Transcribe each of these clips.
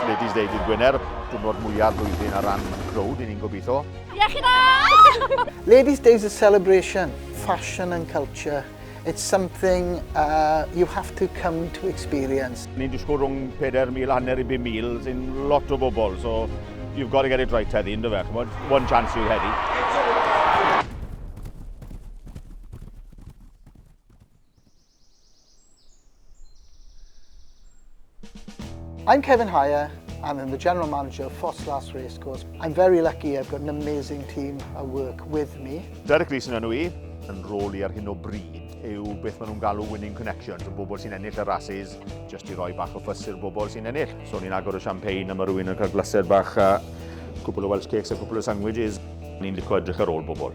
Ladies Day dydd Gwener, diwrnod mwyaf blwyddyn ar ran crowd, i ni'n gobeithio. Iechyd da! Ladies Day is a celebration, fashion and culture. It's something uh, you have to come to experience. Ni'n disgwyl rhwng 4,000 hanner i 5,000, sy'n lot o bobl, so you've got to get it right heddi, ynddo fe, chymod? One chance you heddi. I'm Kevin Hire. I'm the general manager of Foss Last Racecourse. I'm very lucky I've got an amazing team I work with me. Derek Leeson yn i, yn rôl i ar hyn o bryd yw beth maen nhw'n galw winning connections, y bobl sy'n ennill y rhasys, jyst i roi bach o ffys i'r bobl sy'n ennill. So ni'n agor y champagne a mae rhywun yn cael glaser bach a cwbl o Welsh cakes a cwbl o sandwiches. Ni'n licio edrych ar ôl bobl.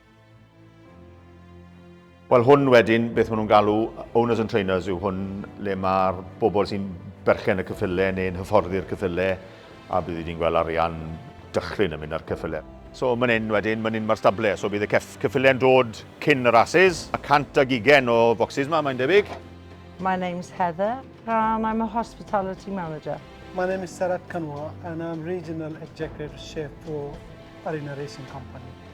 Wel hwn wedyn, beth maen nhw'n galw owners and trainers yw hwn le mae'r bobl sy'n berchen y cyffyle neu'n hyfforddi'r cyffyle a bydd wedi'n gweld arian dychryn yn mynd ar cyffyle. So mae'n un wedyn, mae'n un mae'r stable, so bydd y cef cyffyle'n dod cyn y rhasys, a 120 o focsys yma mae'n debyg. My name's Heather and I'm a hospitality manager. My name is Sarat Kanwa and I'm regional executive chef for Arena Racing Company.